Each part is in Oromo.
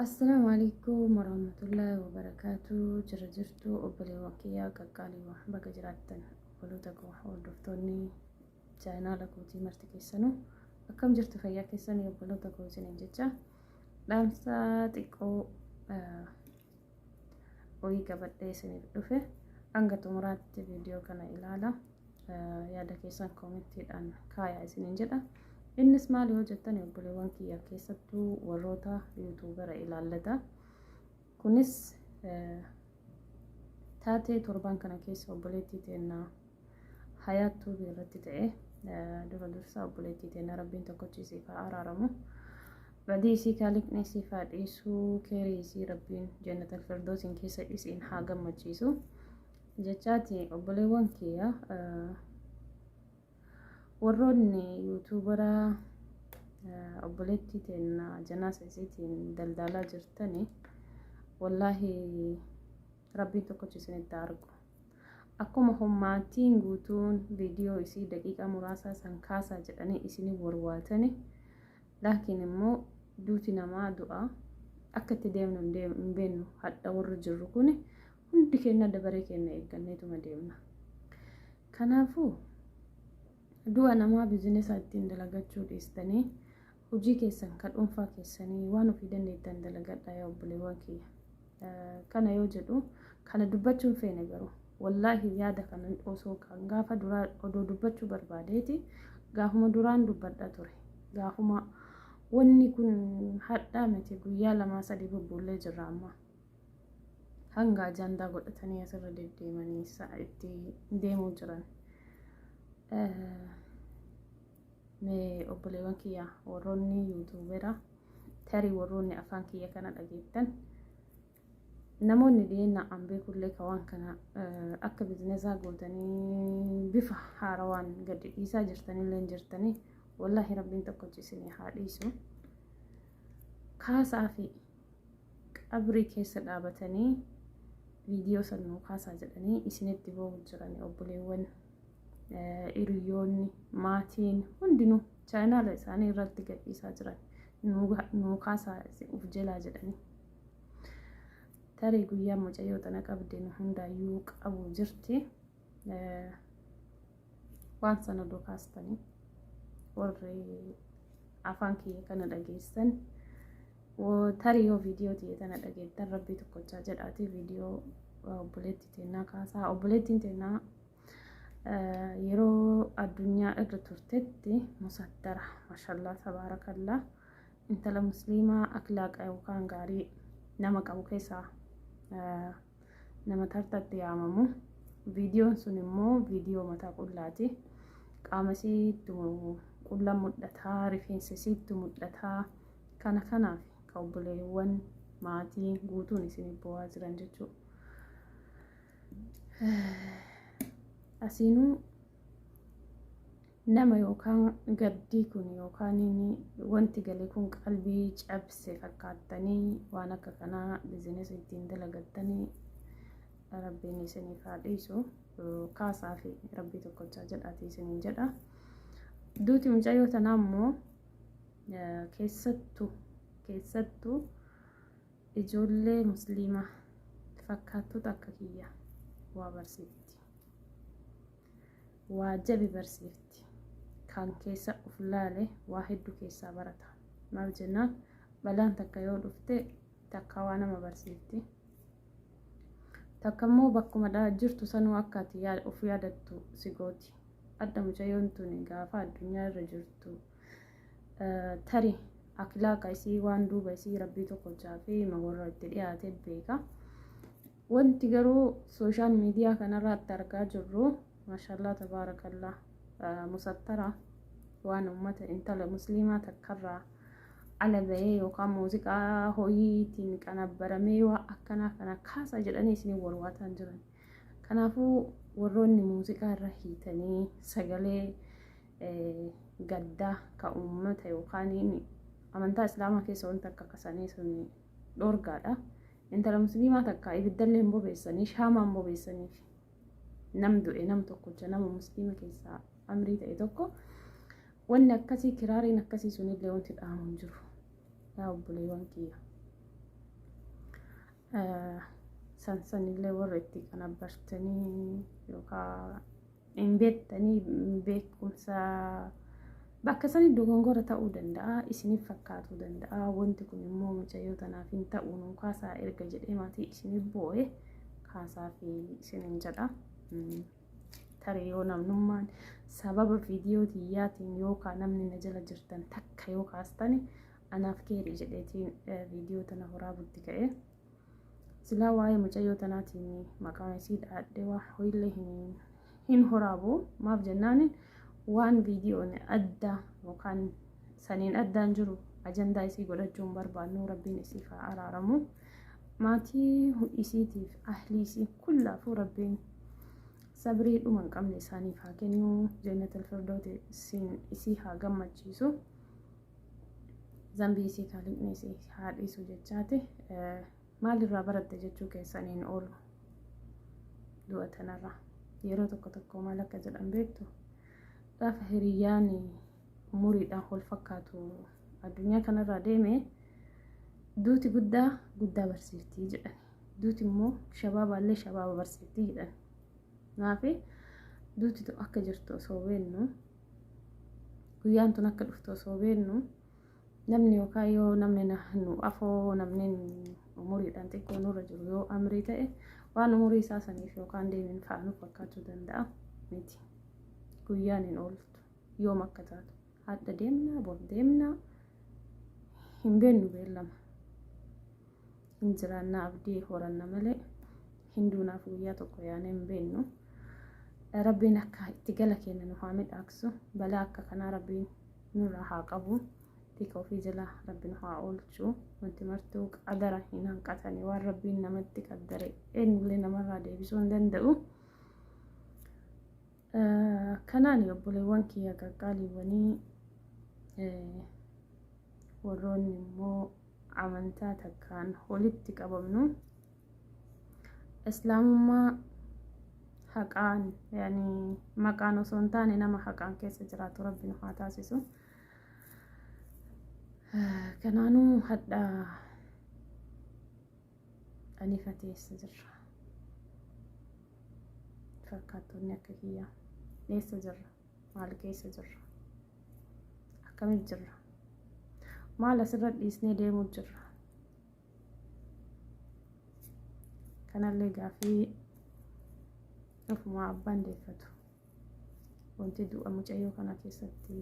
Assalaamu alaikum warahmatullahi wabarakatuh jira jirtu obboleewwan kiyyaa qaqqaaliiwwan baga jiraattan obboloota koo hordoftoonni chaayinaala kootii marti keessanuu akkam jirtu fayyaa keessanii obboloota koo isiniin jecha dhaamsa xiqqoo wayii qabadhee isiniif dhufe hanga xumuraatti viidiyoo kana ilaala yaada keessan koomittiidhaan kaayaa isiniin jedha innis maal yoo jettan obboleewwan kiyya keessattuu warroota yuutuubara ilaallata kunis taatee torban kana keessa obboleettii teennaa hayaat tuubii irratti ta'e dura dursaa obboleettii teena rabbiin tokkochi isiif haa araaramu badii isii kaaliqni isiif haa dhiisuu keerii isii rabbiin jannatal firdoosiin keessa isiin haa gammachiisu jechaati obboleewwan kiyya warroonni yuutuubaraa obboleettii teena janaasa isiitiin daldaalaa jirtanii wallaahi Rabbiin tokkochi isinitti argu. Akkuma hommaatiin guutuun viidiyoo isii daqiiqaa muraasaa san kaasaa jedhanii isinii warwaatani. Laakiin immoo duuti namaa du'a. Akka itti deemnu hin beeknu hadha warri jirru kun hundi keenya dabaree keenya eegganneetuma deemna. Kanaafuu du'a namaa bizinesaa ittiin dalagachuu dhiistanii Hojii keessan ka dhuunfaa keessanii waan ofii dandeettan dalagadhaa yaa obboleewwan kiyya. Kana yoo jedhu kana dubbachuu hin feene garuu wallaahi yaada kana osoo kan gaafa duraa odoo dubbachuu barbaadeeti gaafuma duraan dubbadha ture. Gaafuma wanni kun hadhaa miti guyyaa lamaa sadii bubbuullee jirra amma. Hanga ajandaa godhatanii asirra deddeemanii itti deemuu jiran. Mee obboleewwan kiyya warroonni yuutuubera tarii warroonni afaan kiyya kana dhageettan namoonni dhiyeenya an beekullee ka waan kana akka bizinesaa gootanii bifa haarawaan gadi dhiisaa jirtanillee jirtanii wallaahi rabbiin tokkochi isinii haa dhiisu kaasaa fi qabrii keessa dhaabatanii viidiyoo sannuu kaasaa jedhanii isinitti boo'u jiranii obboleewwan hiriyoonni maatiin hundinuu chaayinaala isaanii irratti gadhiisaa jiran nuu kaasaa uf jelaa jedhanii tarii guyyaa mucayyoo tana qabde nu hundaayyuu qabu jirti waan sana odoo kaastanii warri afaan kiyya kana dhageessan tarii yoo viidiyoo tiyya tana dhageettan rabbii tokkochaa jedhaatii viidiyoo obboleetti teennaa kaasaa obboleettiin teennaa yeroo addunyaa irra turtetti musaddara mashallaa tabaarakallaa intala musliimaa akilaaqa yookaan gaarii nama qabu keessaa nama tartatti yaamamu viidiyoon sun immoo viidiyoo mataa qullaati qaama isiitti qulla mul'ataa rifeensa isiitti mul'ataa kana kanaaf ka obboleewwan maatii guutuun isin bu'aa jiran jechuudha. asiinuu nama yookaan gaddii kun yookaan wanti galee kun qalbii cabse fakkaattanii waan akka kanaa bizineesii ittiin dalagattanii rabbiin isiniif haa dhiisu kaasaa fi rabbii tokkochaa jedhaatii isiniin jedha. Duuti mucayyoo tanaa immoo keessattu keessattu Ijoollee musliimaa fakkaattota akka kiyya waa barsiifti. Waa jabi barsiifti. Kan keessa of laale waa hedduu keessaa barata. Maaf jennaan balaan takka yoo dhufte takka waa nama barsiifti. Takka immoo bakkuma jirtu sanuu akka ati of yaadattu si gooti. Adda mucayyoon tuni gaafa addunyaa irra jirtu. tari akilaaqa isii waan duuba isii rabbii tokko jaafee ma warra itti dhiyaate beeka wanti garuu sooshaal miidiyaa kanarratti argaa jirru maashallaa tabaarakallaa musattara waan ummata intala musliimaa takkarraa ala bahee yookaan muuziqaa ho'iitiin qanabbaramee waa akkanaa kana kaasa jedhanii isin warwaataan jiran. Kanaafuu warroonni muuziqaa irra hiitanii sagalee gaddaa ka uummata yookaan amantaa islaamaa keessa wanta akka kasanii sun dhorgaadha. Intala musliimaa takka ibiddallee hin bobeessanii shaamaan bobeessaniif nam du'e nam tokkocha nama musliima keessaa amrii ta'e tokko wanni akkasii kiraariin akkasii sunillee wanti dhaamu hin jiru. Yaa obboleewwan kiyya. Sansanillee warra itti qanabbartanii yookaan hin beektanii beekumsa bakka sanii dogongora ta'uu danda'a isiniif fakkaatuu danda'a wanti kun immoo mucayyoo tanaaf hin ta'u nu kaasaa erga jedhee maatii isiniif boo'e kaasaa fi isiniin jedha. Tarii yoo namnummaan sababa viidiyoo tiyyaatiin yookaan namni na jala jirtan takka yoo kaastani Anaaf keeri jedheetiin viidiyoo tana horaa butti ka'e. Silaa waa'ee mucayyoo tanaatiin maqaan isii dhaadhee waa hoillee hin horaabu. Maaf jennaan waan viidiyoon adda yookaan saniin addaan jiru ajandaa isii godhachuu hin barbaannu rabbiin isiif haa araaramu. Maatii isiitiif ahlii isii kullaafuu rabbiin sabrii dhuma hin qabne isaaniif haa kennu. Jeennatal firdootiin isii haa gammachiisu. zambii isii kaaliqni isii haa dhiisu jechaati maalirraa baratte jechuu keessan hin oolu du'a tanarraa yeroo tokko tokko maal akka jedhan beektu gaafa hiriyyaan umuriidhaan wal fakkaatu addunyaa kanarraa deeme duuti guddaa guddaa barsiiftii jedhan duuti immoo shabaabaallee shabaaba barsiiftii jedhan naafi duuti akka jirtu osoo beennu guyyaan tun akka dhuftu osoo beennu namni yookaan yoo namni nu afoo namni umuriidhaan xiqqoo nurra jiru yoo amrii ta'e waan umurii isaa saniif yookaan deemin fa'a nuuf fakkaachuu danda'a miti guyyaan hin ooltu yoom akka taatu hadha deemna bor deemna hin beennu beellama. hin jiraannaa abdii horanna malee hin duunaaf guyyaa tokko yaanee hin beennu. Rabbiin akka itti gala keenya nu haa midhaaksu. Balaa akka kanaa rabbiin nurraa haa qabu. Tika ofii jala rabbi nu haa oolchu. Wanti martuu qadara hin hanqatani waan rabbiin namatti qaddare eenyullee namarraa deebisuu hin danda'u. Kanaani obboleewwan kiyya qaqqaaliiwwanii warroonni immoo amantaa takkaan walitti qabamnu islaamummaa haqaan yani maqaan osoo hin taane nama haqaan keessa jiraatu rabbi nu haa taasisu. Kanaanuu hadhaa Ani fatee eessa jirra? Fakkaattonni akka kiyyaa eessa jirra? Maal keessa jirra? Akkamitti jirra? Maal asirra dhiisnee deemuu jirra? Kanallee gaafii ofumaa abbaan deeffatu. Wanti du'a mucayyoo kana keessatti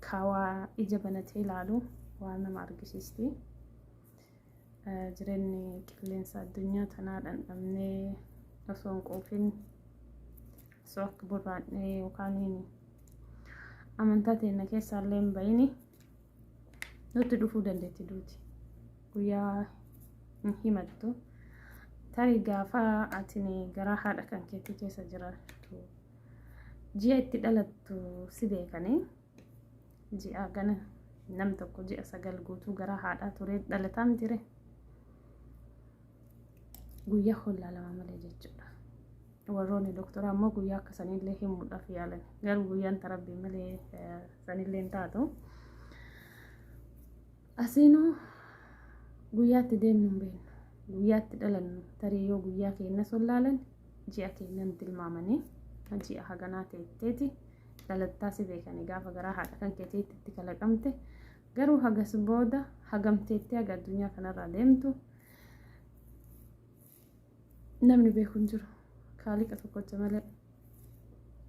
Kaa waa ija banatee ilaalu waa nama argisiisti. Eh, Jireenyi qilleensa addunyaa tanaa dhandhamnee osoo hin quufin osoo akka burraadhee yookaan amantaa teenna keessaa illee hin bahini nutti dhufuu dandeetti duuti. Guyyaa hin himattu. Tarii gaafa atini garaa haadha kan keetii keessa jiraattu ji'a itti dhalattu si beekanii ji'a gana nam tokko ji'a sagal guutuu gara haadhaa turee dhalataan jire guyyaa hollaa lama malee jechuudha. Warroonni doktoraa immoo guyyaa akka sanillee himuudhaaf yaalan garuu guyyaan tarabbii malee sanillee hin taatu. Asiinuu guyyaatti deemnu hin beeknu guyyaatti dhalannu tarii yoo guyyaa keenya sollaalan ji'a keennan tilmaamanii ji'a haganaa teetteeti dhalattaa si beekanii gaafa garaa haadha kan keeteetti itti kalaqamte garuu hagas booda hagamteetti haga addunyaa kanarraa deemtu namni beeku hin jiru kaaliqa tokkocha malee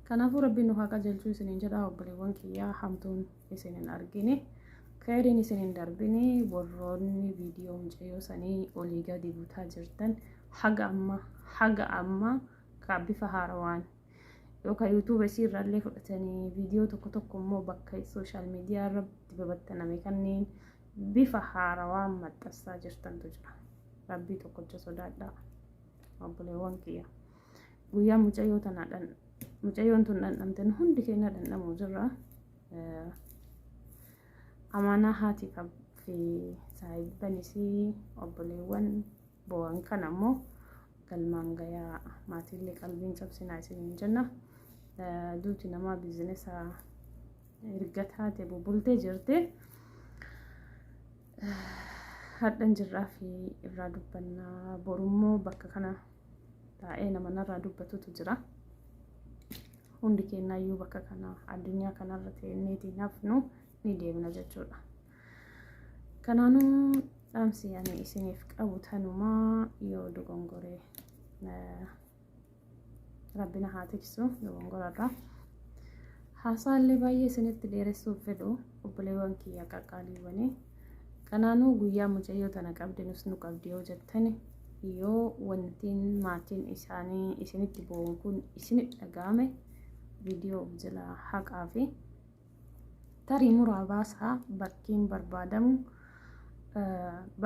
kanaafuu rabbiin nu haa qajeelchuu isiniin jedhaa obboleewwan kiyyaa hamtuun isin hin argine keeriin isin hin darbine warroonni viidiyoo mucayyoo sanii olii gadi butaa jirtan haga amma haga amma ka bifa haarawaan yookaan yuutuuba isii irraallee fudhatanii viidiyoo tokko tokko immoo bakka sooshaal miidiyaa irratti babattaname kanneen bifa haarawaan maxxansaa jirtantu jira rabbii tokkocha sodaadhaa obboleewwan kiyya. guyyaa mucayyoo tanaa dhan mucayyoon tun dhandhamte nu hundi keenya dhandhamuu jirra amaanaa haati fi saahiban isii obboleewwan bo'an kan ammoo galmaan gayaa maatiillee qalbiin cabsinaa isiniin jenna duuti namaa biizinesa erga taate bubultee jirte. Hadhan jirraa fi irraa dubbannaa borummoo bakka kana taa'ee nama narraa dubbatutu jira. Hundi keenyaayyuu bakka kana addunyaa kanarra teenneetii nafnu ni deemna jechuudha. Kanaanuu dhaamsi ani isiniif qabu tanumaa yoo dogongoree. Rabbina haa tiksu dogongorarraa. Haasaallee baay'ee isinitti dheeressuuf fedhu obboleewwan kiyya qaqqaaliiwwanii. Kanaanuu guyyaa mucayyoo tana qabde nus nu qabdi yoo jettani yoo wantiin maatiin isaanii isinitti bo'uun kun isinitti dhaga'ame viidiyoo of jalaa haqaa fi tarii muraa baasaa bakkiin barbaadamu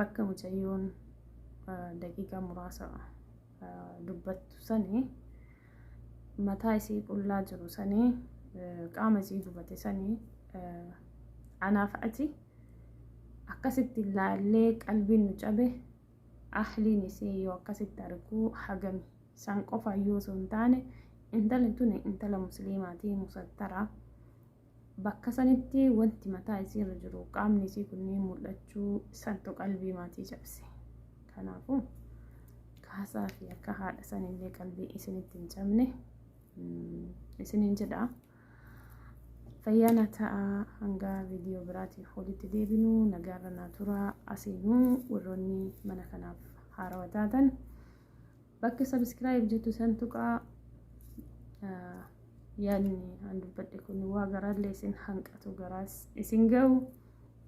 bakka mucayyoon daqiiqaa muraasa dubbattu sanii mataa isii qullaa jiru sanii qaama isii gubate sanii anaaf ati akkasitti laallee qalbiin nu cabe ahliin isii yoo akkasitti arguu hagami san qofa yoo sun taane intala tuni intala musliimaatii musattaraa Bakka sanitti wanti mataa isii irra jiru qaamni isii kunniin mul'achuu santu qalbii maatii cabse. Kanaafuu kaasaa fi akka haadha sanillee qalbii isinitti hin cabne isiniin jedha. Fayyaana ta'a hanga viidiyoo biraatiif walitti deebinu nagaarra naa tura asiinuu warroonni mana kanaaf haarawa taatan. Bakka subscribe jettu san tuqaa yaadni an dubbadhe kun waa garaallee isin hanqatu garaas isin ga'u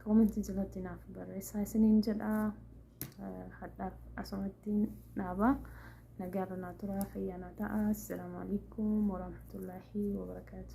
koomentii jalatti naaf barreessaa isiniin jedha hadhaaf asumattiin dhaabaa nagaarra naa turaa fayyaa naa ta'a assalaamu alaikum warahmatullaahi wabarakaatu